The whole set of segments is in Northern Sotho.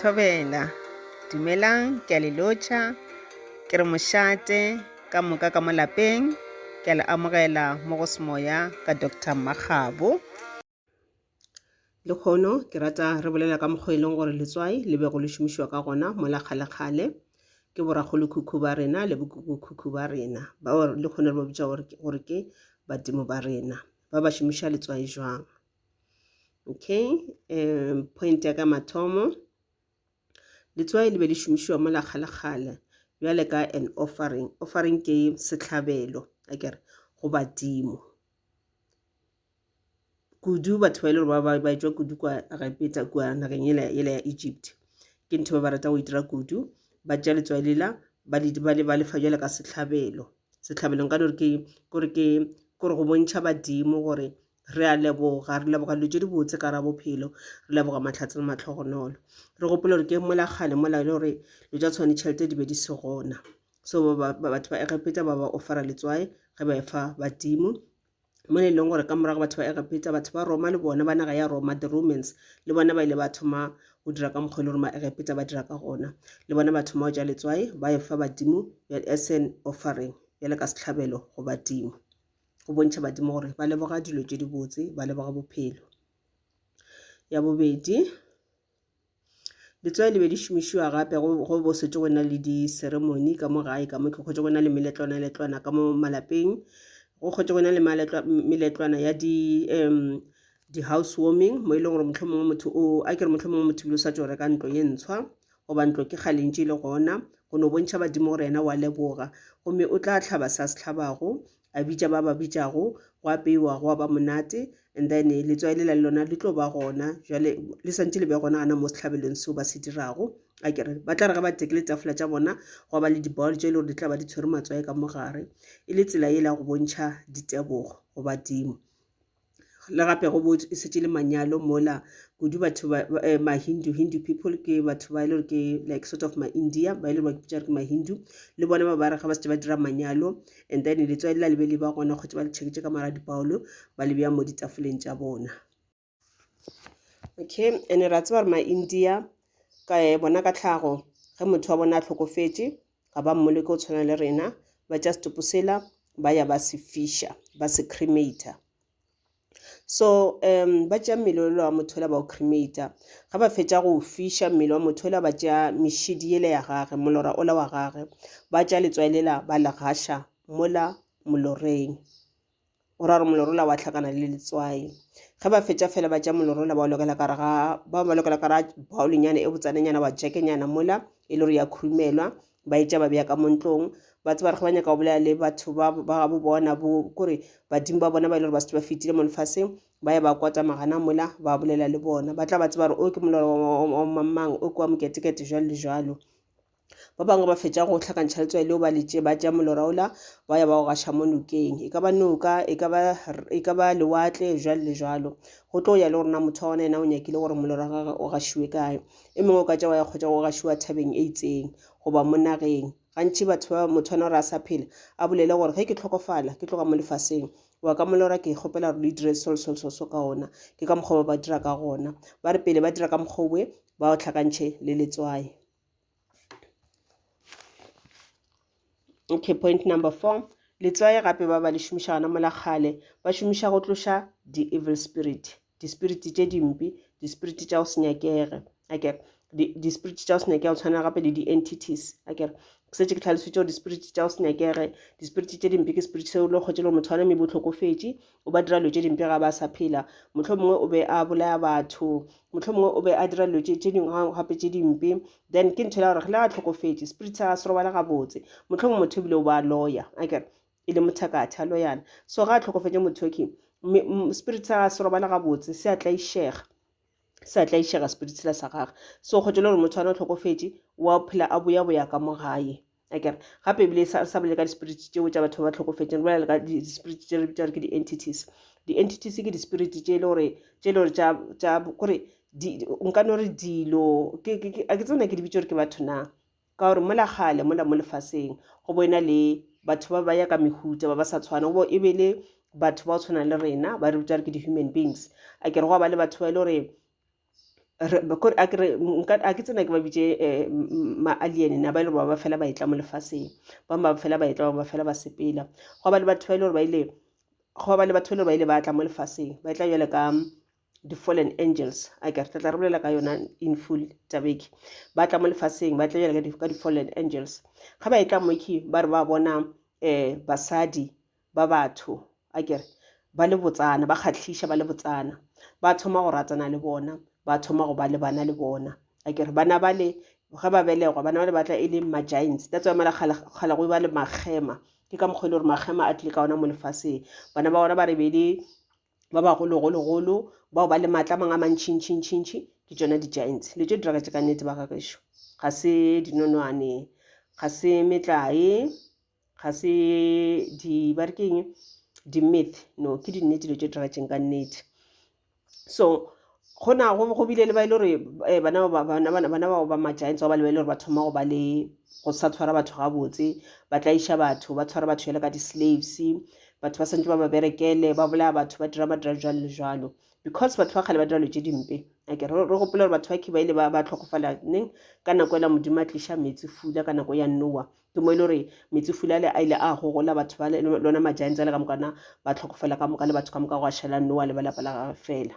thobela dumelang ke a le lotšha ke re mošate ka moka ka mo lapeng ke a le amogela mo go semoya ka dr makgabo Lekgono ke rata re bolela ka mokgwa e leng gore letswai le be go le šomišiwa ka gona mola kgalekgale ke borakgolokhukhu ba rena le bokukukhukhu ba rena ba lekgono le ba bitša gore ke badimo ba rena ba ba šomiša letswai jwang okay um point ya ka mathomo letswai le be le šomišiwa mola kgalekgale bjale ka an offering offering ke setlhabelo akere go badimo kudu batho ba e le gore ba ba etswa kudu kwa egepeta kua nageng yela yela ya egypt ke ntho ba ba rata go itira kudu ba tša letswai lela ba le ba le ba lefa jwale ka setlhabelo setlhabelong ka dore ke gore ke gore go bontšha badimo gore re a leboga re leboga dilo tse di botse ka ra bophelo re leboga matlhatse le matlhogonolo re gopole gore ke mola kgale mola e le gore dilo tsa tshwane tšhelete di be di se gona so batho ba egepeta ba ba ofara letswai ge ba efa badimo mo le leng gore ka morago batho ba egepeta batho ba roma le bona ba naga ya roma the romans le bona ba ile ba thoma go dira ka mokgwa e le gore maegepeta ba dira ka gona le bona ba thoma go ja letswae ba e fa badimo as an offering bjale ka setlhabelo go badimo go bontšha badimo gore ba leboga dilo tše dibotse ba leboga bophelo ya bobedi Letswai le be di šomišiwa gape go go bo setse go na le di-ceremony ka mo gae ka mo ke kgotse go na le meletlwana letlwana ka mo malapeng go kgotse go na le meletlwana ya di um di-house warming mo e leng gore mohlomongwe motho o a kere mohlomongwe motho ebile o sa tšo reka ntlo e ntshwa goba ntlo ke kgale ntše e le gona go no bontšha badimo gore yena wa leboga gomme o tla tlhaba sa se tlhabago A bitša ba ba bitšago, gwa apeiwa, gwa ba monate, and then letswai lela le lona le tlo ba gona. Jale le swantše le be gona gana mo sehlabelong seo ba se dirago. A ke re, ba tla re ge ba tekile tafula tša bona, gwa ba le di-bowl tše e le gore di tla ba di tshwere matswai ka mo gare, e le tsela yela ya go bontšha ditebogo go badimo. le gape go bo e setse le manyalo mola kudu batho ba eh, ma-hindu hindu people ke batho ba e le gore ke like sort of ma-india ba e le gore ba kipitsa re ke ma-hindu le bona ba ba re ga ba setse ba dira manyalo and then letswai la le be le ba gona kgotse ba le tšheketse ka mara dipaolo ba le beya mo ditafoleng tša bona okay and ra tseba gore ma-india ka eh, bona ka tlhago ge motho wa bona a tlhokofetše ga ba mmole ke go tshwana le rena ba tša setopo sela ba ya ba se fisha ba se cremator so um ba tšea mmele ola wa motho ola ba o cremator ga ba fetša go fisha mmele wa motho ola ba tšea mešidi ele ya gage molora ola wa gage ba tšea letswai lela ba le gasha mola moloreng o ra gore molorola wa hlakana le letswai ge ba fetša fela ba tša molorola ba lokela kare ga ba ba lokela kare baolinyana e botsanenyana wa jekenyana mola e le gore ya khurumelwa ba e tša ba beya ka montlong ba tseba re ge ba nyaka go bolela le batho ba gabo bona bo kore badimo ba bona ba e le gore ba setse ba fetile mo lefaseng ba ye ba kwata magana mola ba bolela le bona ba tla ba tseba gore o ke molora wa mamang o ke wa moketekete jalo le jalo ba bangwe ba fetša go hlakantšha letswai leo ba letše ba tša molora ola ba ya ba o gaša mo nokeng e ka ba noka e ka ba e ka ba lewatle jwalo le jwalo go tlo ya le gore na motho wa gona yena o nyakile gore molora wa gagwe o gašiwe kae e mongwe o ka tša wa ya kgotsa go gašiwa thabeng e itseng goba mo nageng gantši batho ba motho wana gore a sa phela a bolele gore ge ke tlhokofala ke tloga mo lefaseng wa ka molora ke kgopela gore le dire sol sol sol so ka ona ke ka mokgwa ba ba dira ka gona ba re pele ba dira ka mokgwa owe ba o tlhakantšhe le letswai Okay, point number four. Letswai gape ba ba le šomiša gana mola kgale ba šomiša go tloša di-evil spirit di-spirit tše dimpe di-spirit tša go se nyakege ake di-spirit tša go se nyakege go tshwana gape le di-entities ake setse ke tlhalositse gore di-spirit tša go se nyakege di-spirit tše dimpe ke spirit seo le kgotse le motho wa name botlhokofetše o ba dira dilo tše dimpe ga ba sa phela motlho mongwe o be a bolaya batho motlho mongwe o be a dira dilo tše dingwe gape tše dimpe then ke ntho e la gore le a tlhokofetše spirit sa se robala gabotse motlho mongwe motho ebile o ba lawyer aker e le mothakatha loyana so ga a tlhokofetše mothoki spirit sa se robala gabotse se a tlaišega sa tla išega spirit sela sa gagwe so kgotho le gore motho ana o tlhokofetše wa phela a boya boya ka mo gae akere gape ebile e sa bolele ka di-spirit tšeo tša batho ba ba tlhokofetseng bolela ka di-spirit tše re bitsa gore ke di-entities di-entities ke di-spirit tše e le gore tše e le gore tša kore nka no re dilo a ke tsena ke di bitse gore ke batho na ka gore mola gale mola mo lefaseng go bo ena le batho ba ba ya ka mehuta ba ba sa tshwana go bo e be le batho ba go tshwana le rena ba re bitsa gore ke di-human beings a ke re go ba le batho ba e le gore a ke re nka a ke tsena ke ba bitše eh, ma-alien na ba e le gore ba ba fela ba etla mo lefaseng ba ba fela ba etla ba ba fela ba sepela go ba le batho ba e le gore ba ile go ba le batho ba e le gore ba ile ba tla mo lefaseng ba etla jale ka di-fallen angels a ke re tla tla re bolela ka yona in full tabeke ba tla mo lefaseng ba tla jale ka di-fallen angels ga ba etla moke ba re ba bona um basadi ba batho a kere ba le botsana ba kgatlhiša ba le botsana ba thoma go ratana le bona ba thoma go ba le bana le bona a kere bana ba le ge ba belegwa bana ba le batla e le ma-giants that's why mala kgale go ba le magema ke ka mokgwa e le gore magema a tlile ka ona mo lefaseng bana ba ona ba re be le ba bagologologolo bao ba le maatla mang a mantšhintšhintšhintšhi ke tsona di-giants le tso diragatše ka nnete ba gagešo ga se dinonwane ga se metlae ga se di ba re keng di-myth no ke dinnete dilo tse diragetseng ka nnete so gona go bile le ba e le gore eh, bana bao ba ma-giants ba ba lebele gore ba thoma go ba le go sa tshwara batho gabotse ba tlaiša batho ba tshwara batho jale ka di-slaves batho ba santse ba ba berekele ba bolaya batho ba dira madira jalo le jalo because batho ba kgale ba dira lo tse dimpe ake re gopole gore batho ba khiba ile ba tlhokofala neng ka nako ela modimo a tliša metsi fula ka nako ya noa ke mo e le gore metsefulale a ile a gogola batho ba lona ma-giants ale ka moka na ba tlhokofela ka moka le batho ka moka go a šala noa le ba lapa la gage fela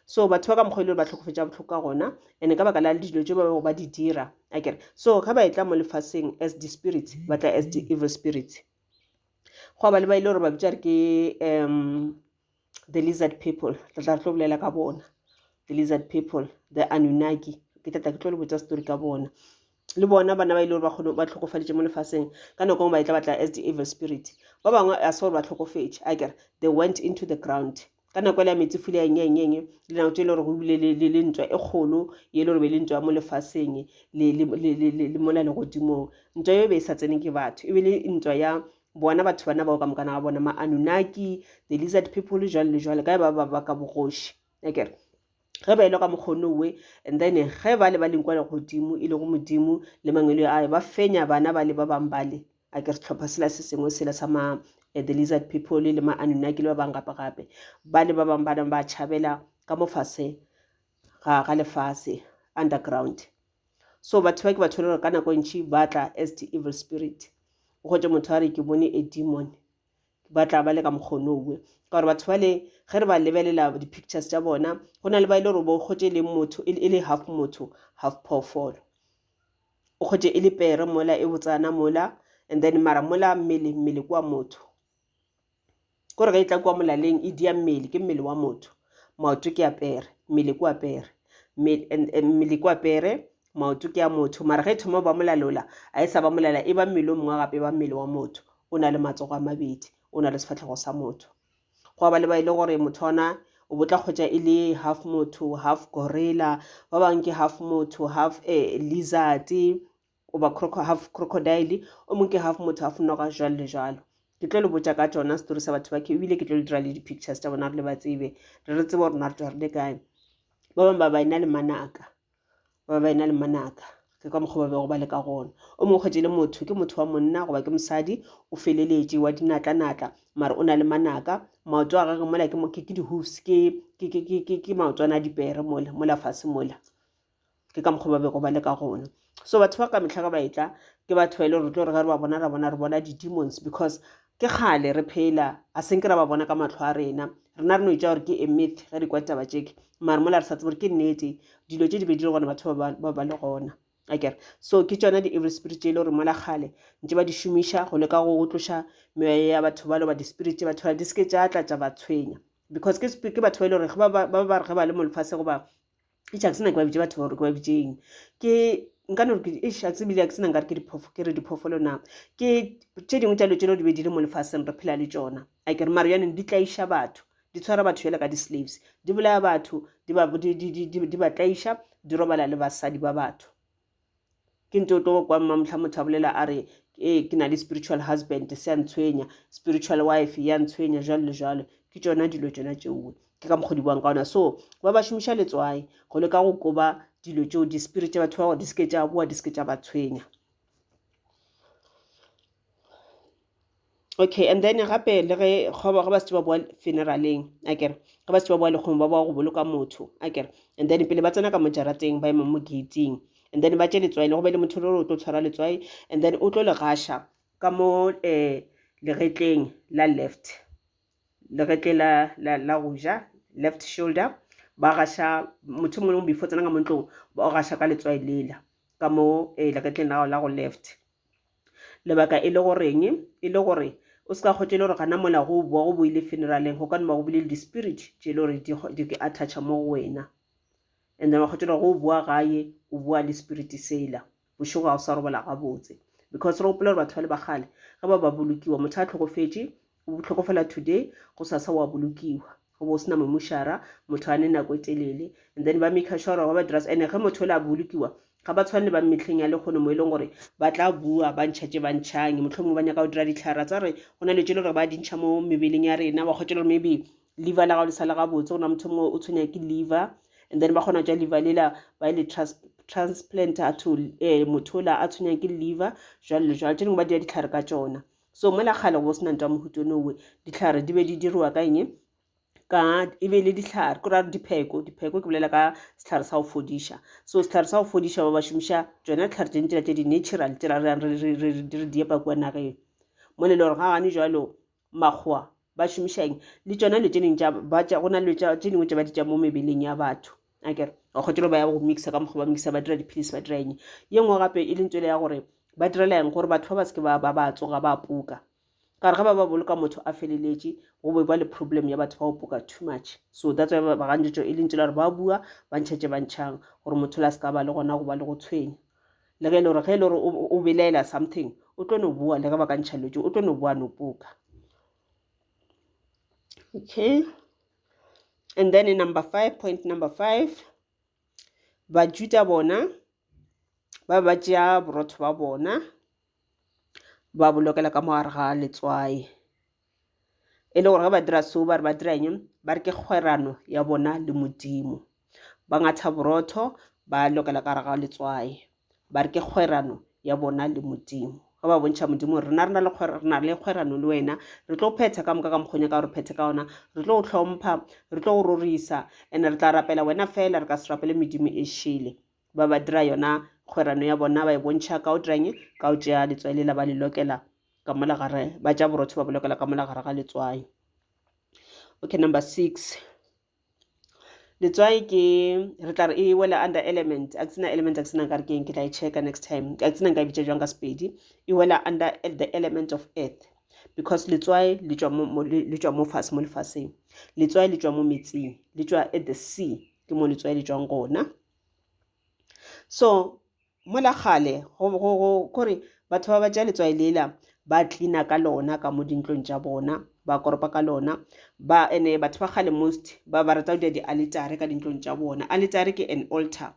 so batho ba ka mokgwa e le gore ba tlhokofetša botlhoko ka gona and-e ka baka la dilo tse ba bego ba di dira a kere so ga ba e tla mo lefaseng as di-spirits ba tla as di-evil spirits go ba le ba e le gore ba bitša re ke um the lizard people ke tla tlo bolela ka bona the lizard people the anunnaki ke tla tla ke tlo le botsa story ka bona le bona bana ba ile gore ba kgone ba tlhokofaditše mo lefaseng ka nako ngwe ba etla batla as the evil spirit ba bangwe a se gore ba tlhokofetše a kere they went into the ground ka nako ele ya metsi fula eng eng eng dinako tse e le gore go bile le ntwa e kgolo e le gore be le ntwa mo lefaseng le mola legodimong ntwa eo be e sa tsene ke batho e be le ntwa ya bona batho bana bao ka mokana ga bona ma-anunaki the lizard people le jwale le jwale kae ba ba ka bogoši akere ge ba elo ka mokgono we and then ge ba le ba leng kwa legodimo e lego modimo le mangwele a ba fenya bana ba le ba bang bale a ke setlhopha sela se sengwe sela sa ma eh, the lizard people le ma-anunaki le ba bang gape gape ba le ba bang ba nang ba tšhabela ka mofase ga ga lefase underground so batho ba ke batho le gore ka nako ntši ba tla as the evil spirit o gotse motho a re ke bone a demon ba tla ba le ka mokgono owe ka gore batho bale ge re ba lebelela di-pictures tša bona go na le ba e le gore bo kgotse e leng motho e, e le half motho half phoofolo o kgotse e le pere mola e botsana mola and then mara mola mmele mmele kwa motho kore ge e tla kua molaleng e dia mmele ke mmele wa motho maoto ke apere mmele ko apere mmele ko apere maoto ke a motho mara ge e thoma ba molalola a e sa ba molala e ba mmele o mongwe gape e ba mmele wa motho o na le matsogo a mabedi o na le sefatlhego sa motho go aba le ba e le gore motho ona o botla kgotsa e le half motho half gorilla ba bangwe ke half motho half a eh, lizard goba croco, half crocodile o mong ke half motho half noga jwalo le jwalo ke tlo le botša ka tsona setori sa batho ba ke ebile ke tlo le dira le di-pictures tša bona re le ba tsebe re re tsebe gore na re tswa re le kae ba bangwe ba ba ena le manaka ba ba ena le manaka ke ka mokgwa ba bego ba le ka gona o mongwe kgwetse le motho ke motho wa monna goba ke mosadi o feleletše wa dinatla-natla mare o na le manaka maoto a gage mola ke ke di-hoofs ke maotwana a dipere mola mola fase mola ke ka mokgwa ba bego ba le ka gona so batho ba ka mehla ka ba etla ke batho ba e le gore tlo re ge re ba bona ra bona re bona di-demons because ke kgale re phela a senke ra ba bona ka matlho a rena rena re no itša gore ke a myth ge re kwa taba tšeke mare mola re sa tsebe gore ke nnete dilo tše di be di le gona batho ba ba le gona akere so ke tšona di-evil spirit tše e le gore mola kgale ntse ba di šomiša go leka go tloša meya ya batho ba loba di-spirit tše batho ba di seke tša tla tša ba tshwenya because ke batho ba e le gore ba ba re ge ba le molefase goba e tša ke sena ke ba bitše batho gore ke ba bitše eng ke nka no ke e shatse bile ke sena nkare ke diphoofo ke re diphoofolo na ke tše dingwe tša lo tšelo di be di le mo lefaseng re phela le tšona a ke re maro yaneng di tlaiša batho di tshwara batho jale ka di-slaves di bolaya batho di ba tlaiša di robala le basadi ba batho ke ntse o tlo kwa mmamotlha motho a bolela a re ee ke na le spiritual husband se a ntshwenya spiritual wife ya ntshwenya jalo le jalo ke tsona dilo tsona tšeoe ke ka mokgodi buang ka ona so ba ba šomiša letswae go le ka go koba dilo tšeo di-spirit tša batho ba gore di seke tša boa di seke tša ba tshwenya okay and then gape le ge ga ba se ba boa funeraleng a kere ga ba se ba boa lekgong ba boa go boloka motho a kere and then pele ba tsena ka mojarateng ba ema mo gating and then ba tše letswai le go be le motho o tlo tshwara letswai and then o tlo le gasha ka mo um legetleng la left legetle la la la go ja left shoulder ba gasha motho mongwe le mongwe before tsena ka mo ntlong ba o gasha ka letswai lela ka mo um legetleng la la go left Lebaka e le goreng? E le gore o se ka kgotša e le gore gana mola go boa go boile funeraleng go ka no ba go bile le di-spirit tše e le gore di ke attactšha mo go wena and then wa kgotša gore go o boa gae o boa le spirit sela bošego ga o sa robala gabotse because re gopola gore batho ba le bagale ge ba ba bolokiwa motho a tlhokofetše O bohloko fela today, gosasa wa bolokiwa. Go bo sena momušara, motho a ne nako e telele. And then ba maker sure gore ba ba dira, ene ge motho o le a bolokiwa, ga ba tshwane le ba mehleng ya lekgono mo e leng gore ba tla bua ba ntšha tše ba ntšhang, mohlomongwe ba nyaka go dira ditlhara tsa gore go na le tše le gore ba di ntšha mo mebeleng ya rena, wa kgwetša le gore maybe liver la gago le sa le gabotse, go na motho mongwe o tshwenya ke liver and then ba kgona tša liver lela ba le transplant a to eh, motho ola a tshwenyang ke liver jwalo le jwalo tše dingwe ba dira ditlhare ka tšona so mola kgale go sena ntwa mohuto nowe ditlhare di be di dirwa ka eng ka e be le ditlhare ko ra dipheko dipheko ke bolela ka setlhare sa go fodiša so setlhare sa go fodiša ba ba šomiša tsona ditlhare tse ntela tse di-natural tse ra reyang re re diepa kua nageng mo le le gore ga gane jalo makgowa ba šomišang le tsona le tse dingwe go na le tse dingwe tse ba di tša mo mebeleng ya batho a kere o kgotelo ba ya go mixa ka mokgwa ba mixa ba dira dipilisi ba dira eng ye nngwe gape e leng tswele ya gore ba direla eng gore batho ba ba seke ba ba ba tsoga ba puka ka re ga ba ba boloka motho a feleletše go be ba le problem ya batho ba go puka too much so that's why ba gantšetso e leng tswele gore ba bua ba ntšhetše ba ntšhang gore motho la seka ba le gona go ba le go tshwenya le ge e le gore ge e le gore o belaela something o tlo no bua le ge ba ka ntšha lotse o tlo no bua no puka okay and then number five point number five bajuda bona ba ba tšea borotho ba bona ba bolokela ka mogare ga letswae e le gore ge ba dira seo ba re ba dira eng ba re ke kgwerano ya bona le modimo ba ngatha borotho ba lokela ka gare ga letswae ba re ke kgwerano ya bona le modimo ge ba bontšha modimo gore rena rena le rena le kgwerano le wena re tlo phetha ka moka ka mokgonya ka gore phethe ka ona re tlo go tlhompha re tlo go rorisa and re tla rapela wena fela re ka se rapele medimo e šele ba ba dira yona kgwerano ya bona ba e bontšha ka o dirang ka o tšea letswai lela ba le lokela ka mola gare ba tša borotho ba bolokela ka mola gare ga letswai okay number six letswai ke re tla re e wela under element a ke tsena element a ke tsena nkare ke eng ke tla e checka next time a ke tsena nka e bitsa jwang ka sepedi e wela under the element of earth because letswai le tswa mo le tswa mo fatshe mo lefatsheng letswai le tswa mo metsing le tswa at the sea ke mo letswai le tswang gona so mola kgale gore batho ba ba tša letswai lela ba cleana ka lona ka mo dintlong tša bona ba koropa ka lona ba ene batho ba kgale most ba ba rata go dira di-alitare ka dintlong tša bona alitare ke an altar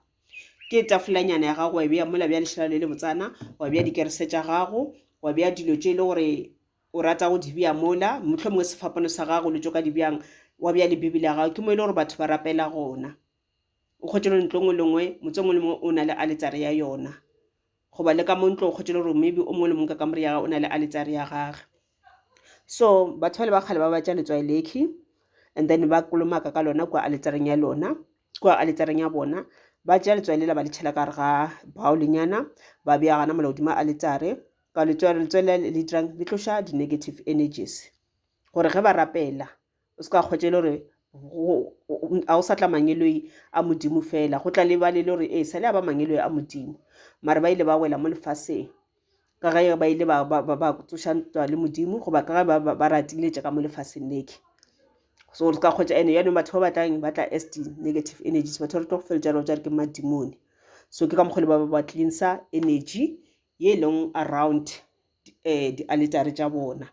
ke tafolanyana ya gago wa beya mola bja lešela le le botsana wa beya dikerese tša gago wa beya dilo tše e le gore o rata go di beya mola motlho mongwe sefapano sa gago le tšo ka di bjang wa beya le bibele ya gago ke mo e le gore batho ba rapela gona o kgwetše gore ntlo nngwe le nngwe motse mongwe le mongwe o na le aletsare ya yona goba le ka mo ntlo o kgwetše gore maybe o mongwe le mongwe ka kamore ya gage o na le aletsare ya gage so batho bale ba kgale ba batša letswai lekhi and then ba kolomaka ka lona kua aletsareng ya lona kua aletsareng ya bona ba tšea letswai lela ba le tšhela ka re ga baolenyana ba bea gana mola godimo aletsare ka letswai letswai le le dirang le tloša di-negative energies gore ge ba rapela O se ka kgwetša e le gore ga o sa tla mangeloi a modimo fela go tla lebale e le gore ee sa le a ba mangeloi a modimo mare ba ile ba wela mo lefaseng ka ge ba ile ba tsošantwa le modimo goba ka ge ba ratiletša ka mo lefaseng leke so re ka kgwetša ene yanong batho ba batlang ba tla as di-negative energies batho re tlo go feletša reo jare ke madimone so ke ka mokgole ba ba cleansa energy ye e leng around um eh, di-aletare tša bona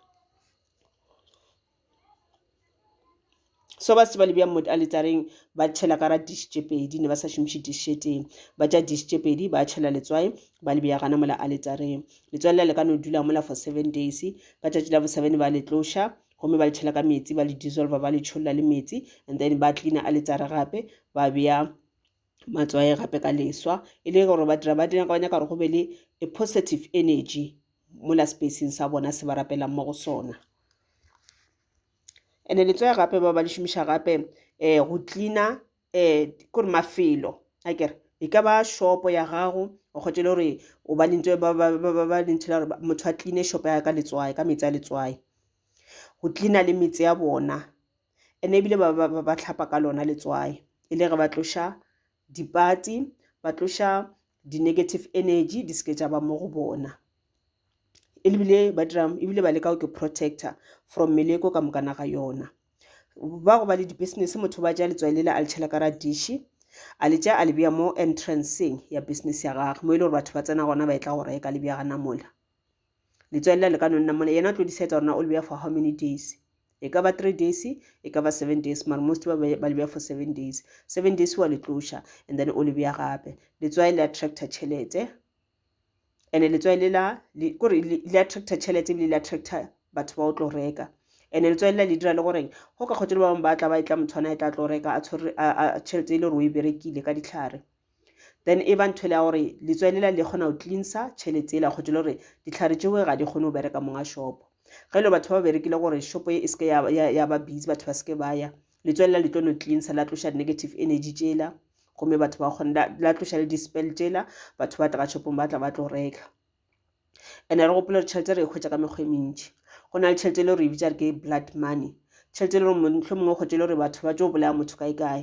so ba se ba le bjang mo aletareng ba tšhela ka ra dish tše pedi ne ba sa šomiše dish e tee ba tša dish tše pedi ba tšhela letswai ba le bjagana mola aletareng letswai lela le ka no dula mola for seven days ka tšatši la bo seven ba le tloša gomme ba le tšhela ka metsi ba le dissolve ba le tšholla le metsi and then ba cleana aletare gape ba bea matswae gape ka leswa e le gore ba dira ba dira ba nyaka gore go be le a positive energy mola spacing sa bona se ba rapelang mo go sona and-e letswae gape ba ba le šomiša gape um go cleaner um kore mafelo a kere e ka ba shopo ya gago o kgotse le gore o ba lentse ba lentshela gore motho a cleane shopo ya ka letswae ka metsi a letswae go cleana le metse ya bona ene ebile ba, ba, ba, ba tlhapa ka lona letswae e le re ba tloša dipati ba tloša di-negative energy di seke tša ba mo go bona ebile ba dira ebile ba leka go ke protector from meleko ka mokana ga yona ba go ba le di-business motho ba ja letswae le le a le tšhela ka ra dishi a le tša a le bea mo entranceng ya business ya gage mo e le gore batho ba tsena gona ba e tla go reka le bea gana mola Letswalela le ka no nna mona, yena o tlo decide gore na o le beya for how many days. E ka ba three days, e ka ba seven days, mara most ba ba le beya for seven days. Seven days wa le tloša and then o le beya gape. Letswai le attracta tšhelete and letswai le la kore le attracta tšhelete ebile le attracta batho ba o tlo reka and letswai la le dira le goreng go ka kgotse le ba bangwe ba tla ba e tla motho ana e tla tlo reka a tshwere tšhelete e le gore o e berekile ka ditlhare then e ba ntho le ya gore letswele la le kgona go cleansa tšhelete ela kgotho le gore ditlhare tšeo ga di kgone go bereka monga shopo ge e le batho ba ba berekile gore shopo e seke ya, ya, ya ba busy batho ba seke ba ya letswele la le tlo no cleansa la tloša negative energy tšela gomme batho ba kgone la tloša le dispel tšela batho ba tla shopong ba tla ba tlo reka ene re gopole gore tšhelete re e kgwetsa ka mekgwa e mentši go na le tšhelete e le gore e bitsa re ke blood money tšhelete e le gore motlho mongwe kgwetsa e le gore batho ba tšo bolaya motho kae kae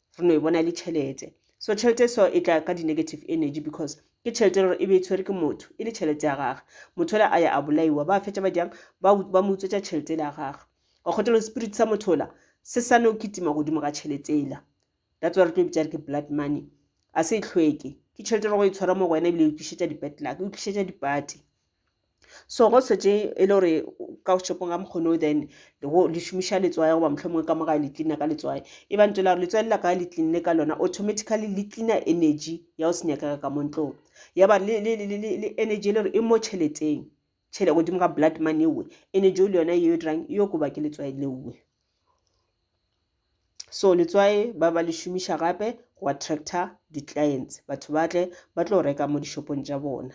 re no e bona e le tšhelete so tšhelete so e tla ka di-negative energy because ke tšhelete e le gore e be e tshwere ke motho e le tšhelete ya gage motho ola a ya a bolaiwa ba fetša ba jang ba mo utswetša tšhelete le ya gage wa kgotelo spirit sa motho ola se sa no kitima godimo ga tšhelete ela that's wa re tlo bitša re ke blood money a se e tlhweke ke tšhelete e re go e tshwara mo go wena ebile e tlišetša di-bedluck e tlišetša dipate So go setse e le gore ka shopong ga mokgono then le šomiša letswai goba mohlomongwe ka mo gae le cleana ka letswai e ba ntse la gore letswai le la kae le cleanne ka lona automatically le cleana energy ya go senyakega ka mo ntlong ya ba le energy e le gore e mo tšheleteng tšhele godimo ga blood money ewe energy le yona yeo e dirang yo koba ke letswai leowe so letswai ba ba le šomiša gape go attractor di-clients batho ba tle ba tlo reka mo dishopong tša bona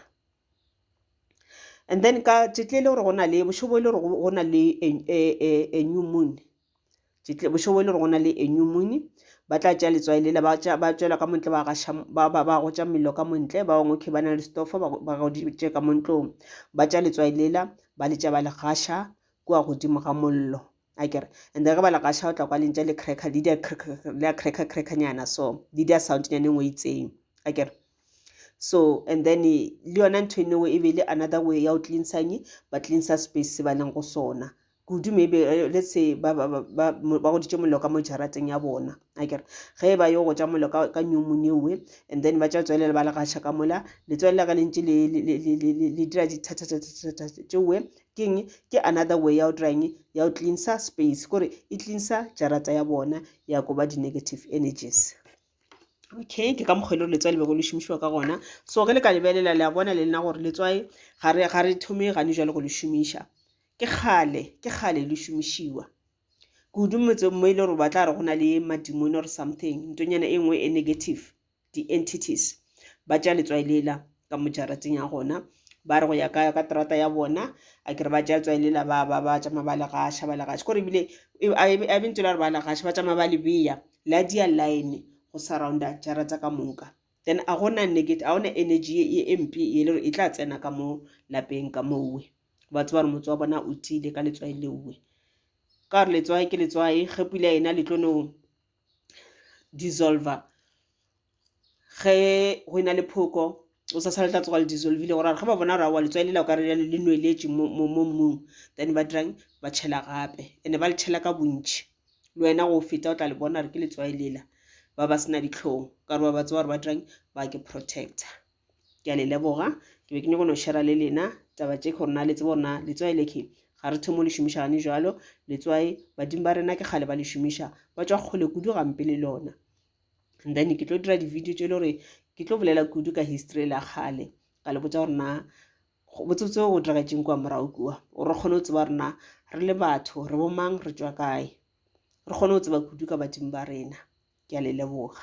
and then ka tšetle e le gore go na le bošobo e le gore go na le a e, e, e, new moon tšetle bošobo e le gore go na le a new moon ba tla tšea letswai lela ba tšwela ka montle ba gaša ba ba ba gotša mello ka montle ba bangwe okay ba na le stofo ba goditše ka montlong ba tša letswai lela ba letša ba le gaša kua godimo ga mollo a kere and ge ba le gaša o tla kwa lentša le cracker le dia le a cracker cracker nyana so le dia sound nyane ngwe itseng a kere so and then le yona ntho e newe e be le another way ya go cleansang ba cleansa space se ba leng go sona kudu maybe eh, let's say ba goditše mollo ka mo jarateng ya bona a kere ge e ba yo go ja mollo ka nyomone ewe and then ba tša tswelela ba le gaša ka mola letswele la ka le ntše le dira dithathathathathatšewe Keng? Ke another way ya go dira eng? Ya go cleansa space, kore e cleansa jarata ya bona ya go ba di-negative energies. Okay, ke ka mokgwa e le gore letswai le bego le šomišiwa ka gona. So ge le ka lebelela le a bona le nna gore letswai ga re ga re thome gane jwale go le šomiša. Ke kgale, ke kgale le šomišiwa. Kudu motseng mo e le gore ba tla re go na le madimone or something, ntonyana e nngwe e negative. di-entities ba tša letswai lela ka mo jarateng ya gona ba re go ya ka ka terata ya bona a kere ba tša letswai lela ba ba ba tšama ba le gaša ba le gaša kore ebile e, a bentse la re ba le gaša ba tšama ba le beya la dia line go surrounda jarata ka moka then a gona negate a gona energy e, e mpe e le gore e tla tsena ka mo lapeng ka mowe ba tseba gore motse wa bona o tiile ka letswai leowe ka gore letswai ke letswai ge pula ena letlonong dissolver ge go ena le phoko o sa sala o tla tsoga le dissolvile gore ge ba bona gore aowa letswai lela okare le nweletše mo mmung then ba dirang ba tšhela gape and-e ba le tšhela ka bontšhi le wena go feta o tla le bona gore ke letswai lela ba ba sena dihlong ka gore ba ba tseba gore ba dirang ba ke protector. ke a le leboga ke be ke nyako no shera le lena taba tše gore na le tsebo na letswai le ke ga re thomo le šomiša gane jalo letswai badimo ba rena ke kgale ba le šomiša ba tswa kgole kudu gampe le lona and then ke tlo dira di-video tše e le gore ke tlo bolela kudu ka history la kgale ka le botsa gore na botsebotse go diragetseng kwa morago kua o re kgone go tseba rena re le batho re bomang re tswa kae re kgone go tseba kudu ka badimo ba rena ke a le leboga